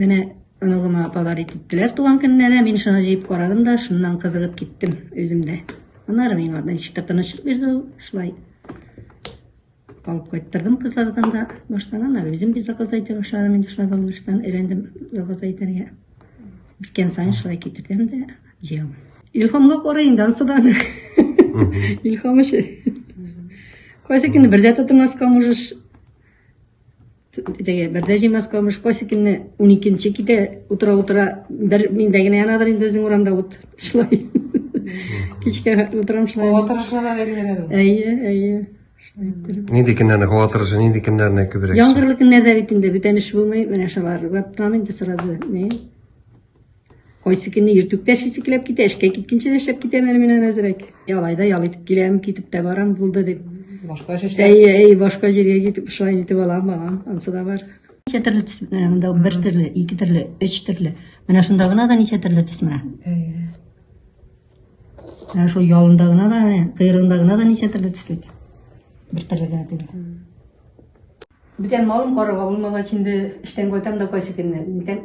Менә оныгыма подарить иттеләр туган көннәренә. Мин шуны җыеп карадым да, шуннан кызыгып киттем үзем дә. Аннары миңа ничектер тынычлык бирде ул. Шулай алып кайттырдым кызлардан да. Баштан аннары үзем бит заказ итә башладым. Инде шулай балалардан өйрәндем заказ итәргә. Бикән сайын шулай китердем дә җыям. Илхамга карый инде ансыдан. Илхам өчен. Кайсы көнне бер дә тотмаска можешь. Теге Бәрдәҗи Москвамыш Косикинны 12-нче китә утыра утыра бер миндә генә янадыр инде үзең урамда ут. Шулай. Кичкә утырам шулай. Һава торышына да бәйләнә. Әйе, әйе. Нинди көннәрне һава торышы, нинди көннәрне күбрәк? Яңгырлы көннәрдә бит инде бүтән эш булмый, менә шулар. Ваттам инде сразу. Не? Кайсы көнне иртүк тә шисекләп китә, эшкә киткәнче дә шәп китәм әле мин әзрәк. Ялай да ял итеп киләм, китеп тә барам, булды дип. Башка шешкә. Әй, әй, башка җиргә китеп шулай итеп алам, балам, ансы да бар. Ничә төрле төс, менә монда бер төрле, ике төрле, өч төрле. Менә шунда гына да ничә төрле төс менә. Менә шул ялында гына да, кыйрында гына да ничә төрле төслек. Бер төрле генә түгел. Бүтән малым карарга булмагач инде эштән кайтам да кайсы көнне. Бүтән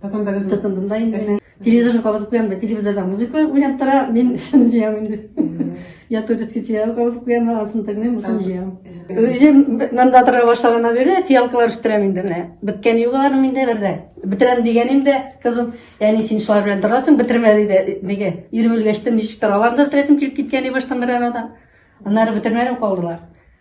Татандагы Татандым да инде. Телевизор кабызып куям да, телевизорда музыка уйнап тора, мин шуны җыям инде. Я турецкий сериал кабызып куям, асын тегнем, бусын җыям. Үзем монда тора башлаганнан бирле фиалкалар үстерәм инде менә. Беткән югаларым инде бердә. Бетерәм дигәнем дә, кызым, яни син шулар белән торасың, бетермә диде. Диге, ирем үлгәч тә ничек тора, аларны бетерәсем килеп киткән баштан бер арада. Аннары бетермәдем калдылар.